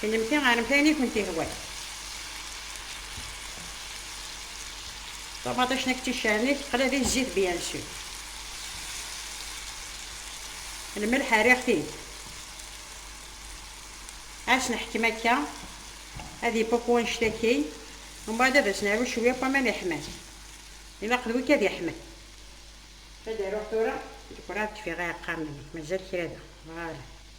Kennemti ɣremt ayen i kent-ihwan. Ṭumaṭic nekk d ticarni teqla di zzit bien sûr. Lmelḥ rriɣ-t-id. As neḥkem akka ad ipuqu annect-a kin, umbaɛd ad as naru cwiya n waman iḥman. Ilaq d wi kad iḥman. Ad aruɣ tura. Nekk werɛad d-kfiɣ iɛeqqamen-a. Mazal kra da. Bɣiɣ ad.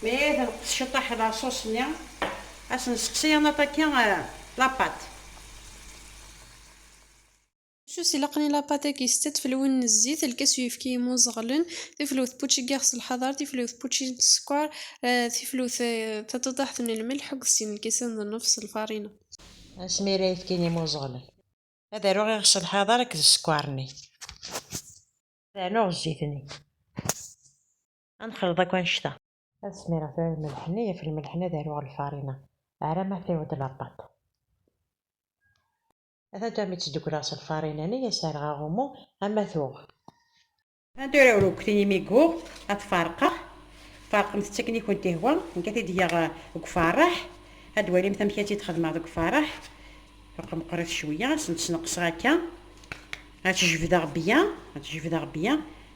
Mi ay tenqes ciṭaḥ laṣuṣ-nni, ad sen-sseqsi ad naṭaki lapat. Sus ilaqen i lapat-agi setta tfelwin n zzit, lkas n uyefki yemmuẓeɣlen, tiflewt n pučigax s lḥader, tiflewt n pučin s sskeṛ, tiflewt taṭuṭaḥt n lmelḥ akked sin lkisan d nnef s lfarina. Asmi ara yefkin yemmuẓeɣlen, ad aruɣ iɣes s lḥader akked sskeṛ-nni. Ad rnuɣ zzit-nni. ad nexliḍ akk annect-a. Ad smireɣ tura lmelḥ-nni, ɣef lmelḥ-nni ad aruɣ lfarina, ar ama tewweḍ lapaṭ. Ata tura mi tt-ddukleɣ s lfarina-nni, ad s-rreɣ aɣummu, ama tuɣ. Ata tura arekti imi yuɣ, ad t-ferqeɣ. Ferqemt-tt akken i kent-ihwa, nekk ad t-id-geɣ deg uferreḥ, ad d-twalimt amek ad tt-id-xedmeɣ deg uferreḥ. Ferqeɣ meqqrit cwiyya, ad tent-sneqseɣ akka, ad tt-jebdeɣ bya, ad tt-jebdeɣ bya,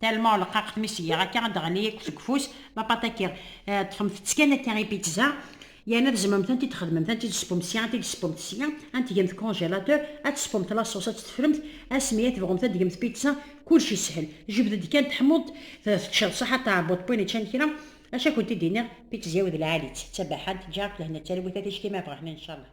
Talma uleqqaq mi s-giɣ akka ad d-ɣli akk seg ufus, ma pataki ṭṭfemt-tt kan akka i pizza, yerna tzemremt ad t-id-txedmemt, ad t-id-tespumt sya, ad t-id-tespumt sya, ad t-tgemt congélateur, ad tespumt la sauce, ad t-teffremt asmi ad tebɣumt ad tgemt pizza, kullec yeshel, jebd-d kan teḥmuḍ-d, teččeḍ saḥa d tɛebbuḍt win iččan kra, acu ad kent-id-iniɣ, pizza-w d lɛali-tt, d tabaḥant, ǧǧiɣ-ak lehna d talwit a ticki ma bɣiɣ-ten incallah.